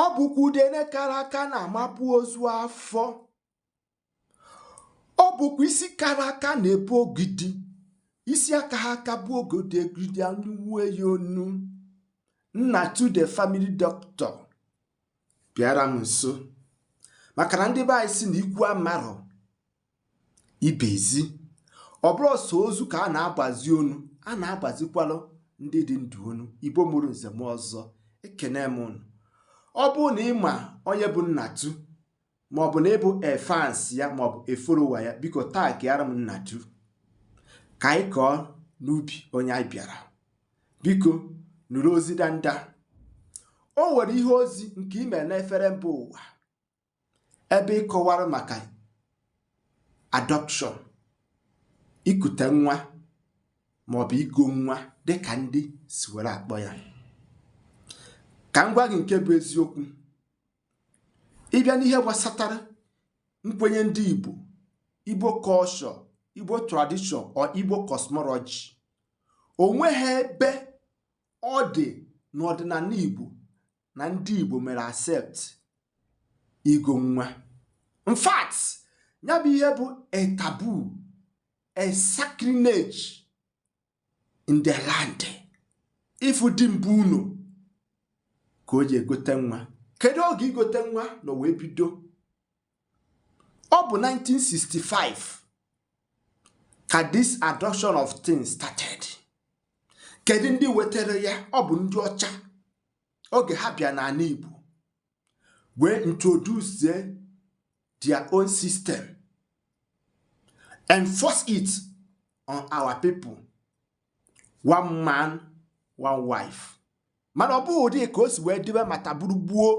ọ bụkwa udene kara aka na-amapụ ozu afọ ọ bụkwa isi kara aka na-ebu ogidi isi akaha aka bu ogidi ogidi anyịwue ya onu nnatu the family doctor bịara m nso maka na ndị be anyị sị na ikwu amarọ ibe ezi ọ bụrọ sọ ozu ka a na-agbazi onu a na-agbazikwalụ ndị dị ndụ onu igbo mụrụ nze mụọ ọzọ ekene m unu ọ bụrụ na ị ma onye bụ nnatu maọbụ na ị bụ a fans ya maọbụ a follower ya biko taagịara m nnatu ka anyị kọọ n'ubi onye anyị bịara biko nụrụ ozi danda o nwere ihe ozi nke i mee n'efere mba ụwa ebe ị kọwara maka adoption ikute nwa maọbụ igo nwa dịka ndị si were akpọ ya ka m gwa gị nke bụ eziokwu ị bịa n'ihe gbasatara nkwenye ndị Igbo Igbo culture Igbo tradition or Igbo cosmology o nweghị ebe ọ dị n'ọdịnala Igbo na ndị Igbo mere accept igo nwa in fact ya bụ ihe bụ a taboo a sacrilege in the land ịfụ di bi ụnọ ka o ji egote nwa kedu oge igote nwa nọ wee bido ọ bụ 1965 ka this adoption of things started kedu ndị wetara ya ọ bụ ndị ọcha oge ha bịa n'ana Igbo wee introduce their own system enforce it on our people one man one wife mana ọ bụghị ụdị ka o si wee dịbe mata bụrụ gboo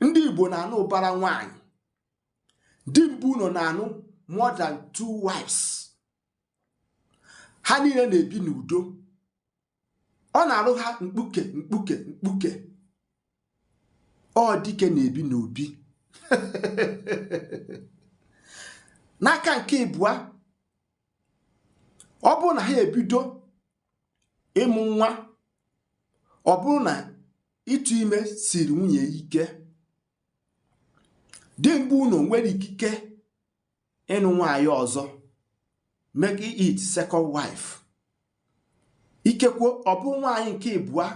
ndị igbo na-anụ ụbara nwaanyị di bi ụnọ na-anụ more than two wives ha niile na-ebi n'udo ọ na-alụ ha mkpuke mkpuke mkpuke ọ dike na-ebi n'obi n'aka nke ịbụa ọ bụrụ na ha ebido ịmụ nwa ọ bụrụ na ịtụ ime siri nwunye ike di bi ụnọ nwere ikike ịnụ nwaanyị ọzọ make it second wife ikekwe ọ bụ nwaanyị nke ịbụa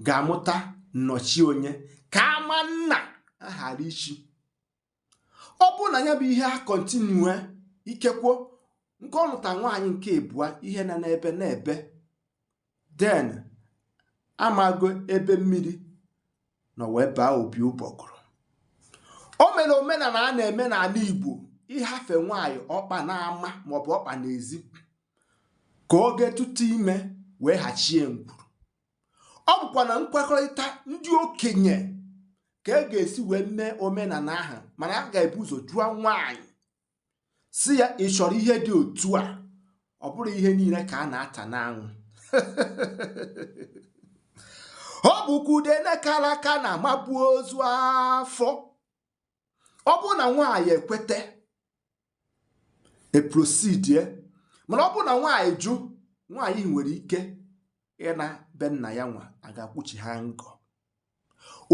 ga-amụta nnọchi onye ka ama nna ya ghara ichi ọ bụrụ na ya bụ ihe a continue ikekwo nke ọ lụta nwaanyị nke ịbụa ihe na-ebe na-ebe then amago ebe mmiri nọ wee baa opi ụgbọgụrụ o mere omenala a na-eme n'ala Igbo ịhafe nwaanyị ọkpa n'ama maọbụ ọkpa n'ezi ka o je tụtụ ime wee hachie ngwuru ọ bụkwa na nkwekọrịta ndị okenye ka e ga-esi wee mee omenala ahụ mana a ga-ebu ụzọ jụọ nwaanyị sị ya ị chọrọ ihe dị otu a ọ bụrọ ihe niile ka a na-ata n'anwụ ọ bụkwa udene kara aka na-amapu ozu afọ ọ bụrụ na nwaanyị ekweta e proceedie mana ọ bụrụ na nwaanyị jụ nwaanyị nwere ike ịna be nna ya nwa a ga-akwụchi ha ngọ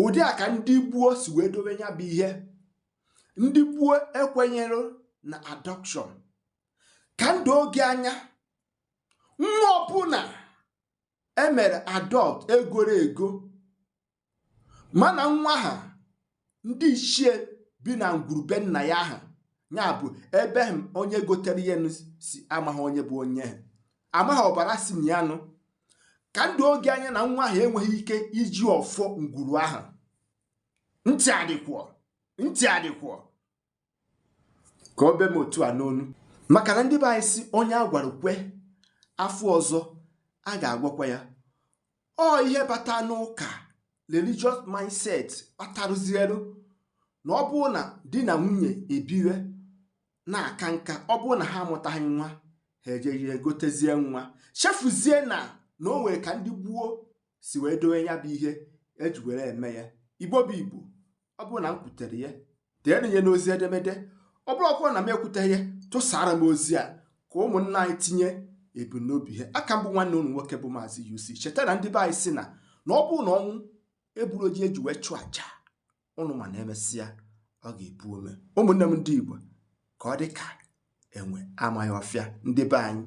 ụdị a ka ndị gboo si wee dobe ya bụ ihe ndị gboo ekwenyerọ na adoption ka m doo gị anya nwa ọbụla e mere adopt e goro ego mana nwa ahụ ndị ichie bi na ngwuru be nna ya ahụ ya bụ ebe m onye gotere ihe si amaghị onye bụ onye ha amaghị ọbara si na ya nụ ka m doo gị anya na nwa ahụ enweghị ike iji ọfọ ngwuru ahụ ntị adịkwọ ntị adịkwọ ka o be m otu a n'ọnụ maka na ndị be anyị sị onye a gwara kwe afọ ọzọ a ga-agwakwa ya ọ ihe bata n'ụka religious mindset kpatarụzielu na ọ bụrụ na di na nwunye ebiwe na-aka nka ọ bụrụ na ha amụtaghị nwa ha ejee gotezie nwa chefuzie na na o nwere ka ndị gboo si wee dowe ya bụ ihe e ji were eme ya Igbo bụ Igbo ọ bụrụ na m kwutere ya deenụ ya n'ozi edemede ọ bụrụ ọ bụrụ na m ekwuteghị ya tụsara m ozi a ka ụmụnna anyị tinye ebumnobi ha aka m bụ nwanne ụnụ nwoke bụ maazị UC cheta na ndị be anyị sị na na ọ bụrụ na ọnwụ egburọ ji e ji wee chụọ aja ụnụ ma na e mesịa ọ ga-epu ome ụmụnne m ndị Igbo ka ọ dị ka enwe amaghị ọfịa ndị be anyị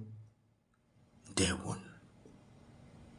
ndewo nụ